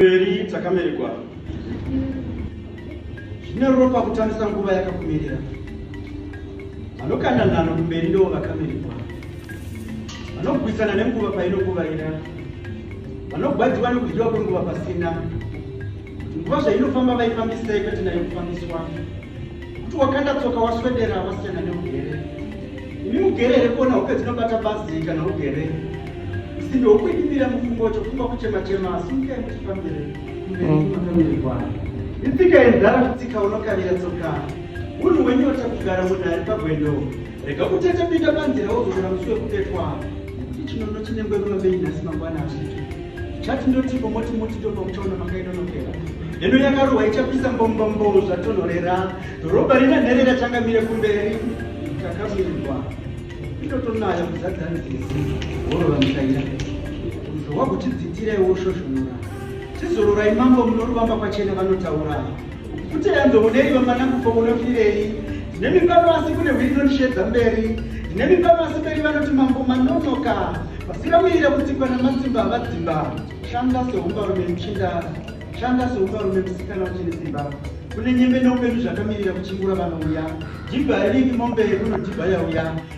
Mberi takamerekwa zvine ropa kutambisa nguva yakakumirira vanokanda nhano kumberi ndivo vakamerekwa vanogwisana nenguva painokuvaira vanogwadziwa nekudyiwa kwenguva pasina nguva zvainofamba vaifambisei kwete nayo kufambiswa kuti wakanda tsoka waswedera wasiyana neugere ini ugere here kuona hope dzinobata bazi kana ugere simbe wokuidimira mufungo chofunga kuchema chema asi nyika yemutifambire mberimakamirikwaa itsika yenzara kutsika unokavira tsoka unhu wenyota kugara munhu ari pagwendo rega kutete pinda panzira wozogara musi wekubetwa nekuti chinono chinengwe ruva bei nhasi mangwana hazviti chati ndotipo moti moti ndopa kuchaona makainonokera heno yakarohwa ichapisa mbombombo zvatonhorera dhorobha rina nherera changamire kumberi takamirwa itotonayo kuzadza nzizi worova mutaira uzowa kutidzitira iwo shoshonora tizororai mambo munoruvamba kwachena vanotaura Kuti yanzo mudei vamana kufa munofirei? Ndine mimba pasi kune hwiri inondishedza mberi. Ndine mimba pasi mberi vanoti mambo manonoka. Vasikamirira kutsikwa namatsimba havadzimba. Shanda seumbarume muchinda. Shanda seumbarume musikana uchine simba. Kune nyembe neupenyu zvakamirira kuchingura vanouya. Jibha iriki mombe kunodhibha yauya.